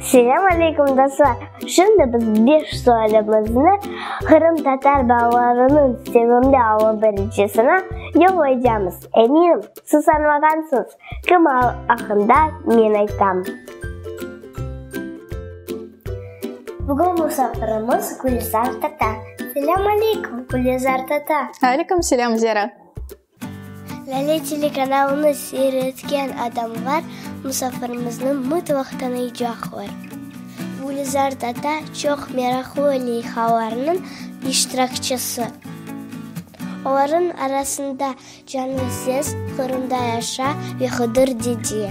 Selam aleyküm dostlar! Şimdi biz beş sualimizni qırımtatar balalarınıñ sevimli alı biricisine yollaycamız. Eminim, siz añlağansız, kim aqqında men aytam. Bugün musafirimiz Gülizar tata. Selam aleyküm, Gülizar tata! Aleyküm selam, Zera! Lale telekanalını seyretken adamlar musafirimizni mıtlaq tanıycaqlar. Gülizar Tata çoq meraqlı leyhalarnıñ iştirakçisi. Olarnıñ arasında Canlı ses, Qırımda yaşa ve Hıdır dede.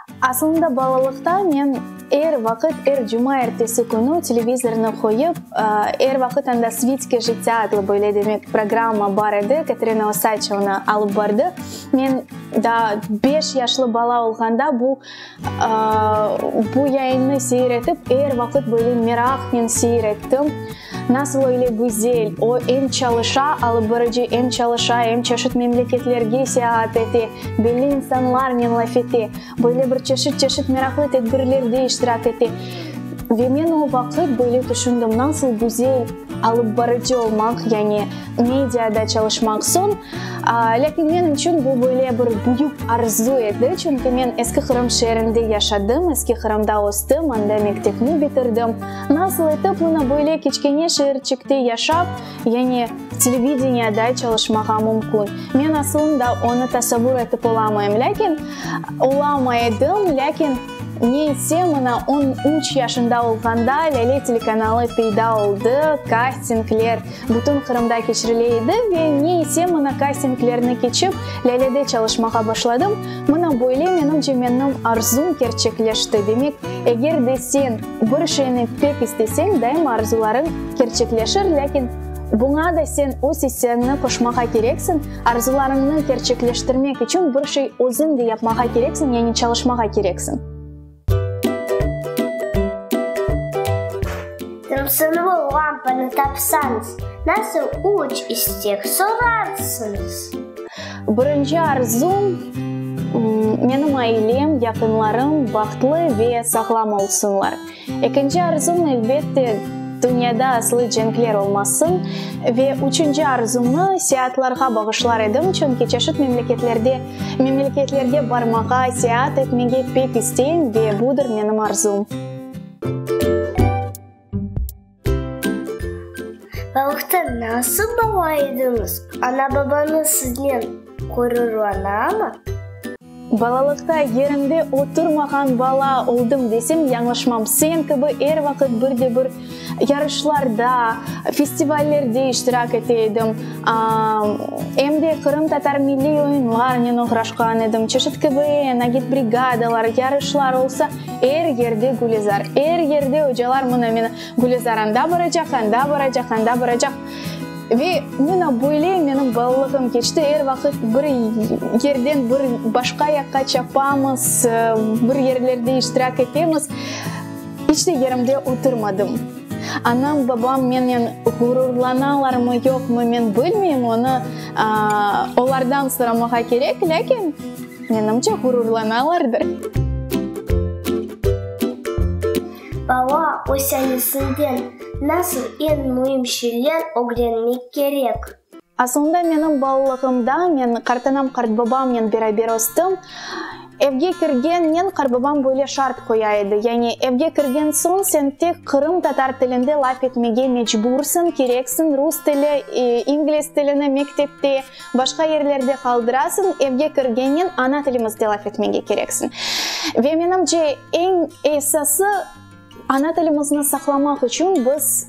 Asılında balalıqta men er vaqıt er cuma ertesi künü televizornı qoyıp, er vaqıt anda Svitske jitya adlı böyle demek programma bar edi, Katerina Osaç onı alıp bardı. Men daa beş yaşlı bala olğanda bu bu yayınnı seyir etip er vaqıt böyle meraqnen seyir ettim. Nasıl öyle güzel! O em çalışa, alıbırıcı, em çalışa, em çeşit memleketlerge seyahat ete, belli insanlarnen laf ete, böyle bir çeşit-çeşit meraqlı tedbirlerde iştirak ete. Ve men o vaqıt böyle tüşündim, nasıl güzel alıbbarıcı olmaq, yani mediada çalışmaq soñ. Lâkin men içün bu böyle bir büyük arzu edi, çünki men Eski Qırım şeerinde yaşadım, Eski Qırımda östüm, anda mektepni bitirdim. Nasıl etip mına böyle kiçkene şeerçikte yaşap, yani televideniyada çalışmağa mümkün? Men asılında onı tasavur etip olamayım, lâkin, olamay edim, lâkin ne etse mına on üç yaşında olğanda Lâle telekanalı peyda oldı, kastingler bütün Qırımda keçirile edi ve ne etse mına kastinglerni keçip Lâlede çalışmağa başladım, mına böyle menimce menim arzum kerçekleşti, demek, eger de sen, Bir şeyni pek isteseñ, daima arzularıñ kerçekleşir, lâkin buña da sen öz isteañni qoşmağa kereksiñ, arzularıñnı kerçekleştirmek içün bir şey özüñ de yapmağa kereksiñ, yani çalışmağa kereksiñ. Dursun bu lampanı tapsañız, nasıl üç istek sorarsıñız? Birinci arzum, menim ailem, yaqınlarım bahtlı ve sağlam olsunlar. Ekinci arzum, elbet de, dünyada aslı cenkler olmasın. Ve üçünci arzumnı seatlarğa bağışlar edim, çünki çeşit memleketlerde, memleketlerge barmağa, seat etmege pek isteyim ve budır menim arzum. Balıqta nasıl bala ediñiz? Ana-babañız siznen ğururlanamı? Balalıqta yerimde oturmağan bala oldım desem yañlışmam. Sen kibi er vaqıt bir de bir yarışlarda, festivallerde iştirak ete edim. Em de qırımtatar milliy oyunlarnen oğraşqan edim. Çeşit kibi nagit brigadalar, yarışlar olsa, Er yerde Gülezar, er yerde ocalar mına mına Gülezar anda baracaq, anda baracaq, anda baracaq. Ve mına böyle menim balalığım keçti, er vaqıt bir yerden bir başqa yaqqa çapamız, bir yerlerde iştirak etemiz. İç de yerimde oturmadım. Anam, babam menen ğururlanalarmı, yoqmı, men bilmeyim, onı olardan soramağa kerek, lâkin. Menimce, ğururlanalardır. Bala ösenisinden nasıl eñ müim şeyler ögrenmek kerek? Asılında menim balalığımda men qartanam-qartbabamnen beraber östüm. Evge kirgennen qartbabam böyle şart qoya edi, yani evge kirgen soñ sen tek Qırım tatar tilinde laf etmege mecbursiñ, kereksiñ, rus tili, ingliz tilini mektepte, Başqa yerlerde qaldırasıñ, evge kirgennen ana tilimizde laf etmege kereksiñ. Ve menimce, eñ esası, ana tilimizni saqlamaq içün biz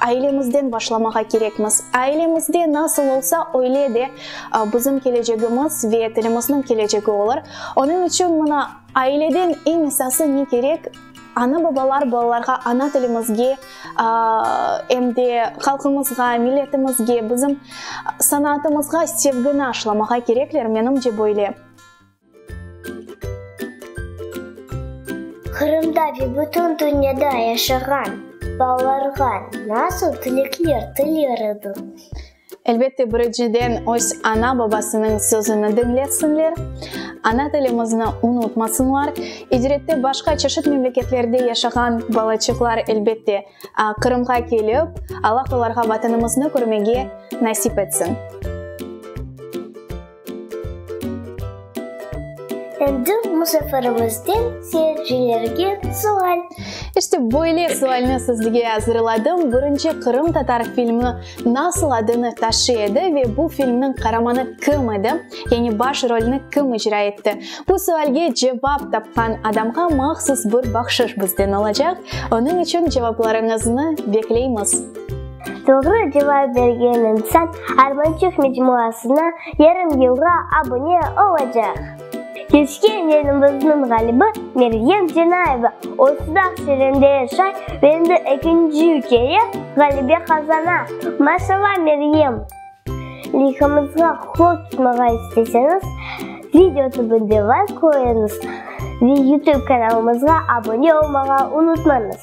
ailemizden başlamağa kerekmiz. Ailemizde nasıl olsa, öyle de bizim kelecegimiz ve tilimizniñ kelecegi olur. Onıñ içün mına aileden eñ esası ne kerek? Ana-babalar balalarğa ana tilimizge, em de halqımızğa, milletimizge, bizim sanaatımızğa sevgini aşılamağa kerekler, menimce böyle. Qırımda ve bütün dünyada yaşağan balalarğa nasıl tilekler tilerdin? Elbette, birinciden, öz ana-babasınıñ sözüni diñlesinler, ana tilimizni unutmasınlar. İcrette başqa çeşit memleketlerde yaşağan balaçıqlar, elbette, Qırımğa kelip, Allah olarğa Vatanımıznı körmege nasip etsin. Endi musafirımızdan seyircilerge sual. İşte böyle sualni sizge azırladım. Birinci qırımtatar filmi nasıl adını taşıy edi ve bu filmniñ qaramanı kim edi? Yani baş rolni kim icra etti? Bu sualge cevap tapqan adamğa mahsus bir bahşış bizden olacaq. Onıñ içün cevaplarıñıznı bekleymiz. Doğru cevap bergen insan Armançıq mecmuasına yarım yılğa abune olacaq. Keşke elimizniñ ğalibi Meryem Cenayeva olsıdaq Serende yaşay ve endi ekinci kere ğalebe qazana. Maşalla Meryem! Leyhımızğa qol tutmağa isteseñiz, video tübünde layk qoyuñız ve youtube kanalımızğa abune olmağa unutmañız.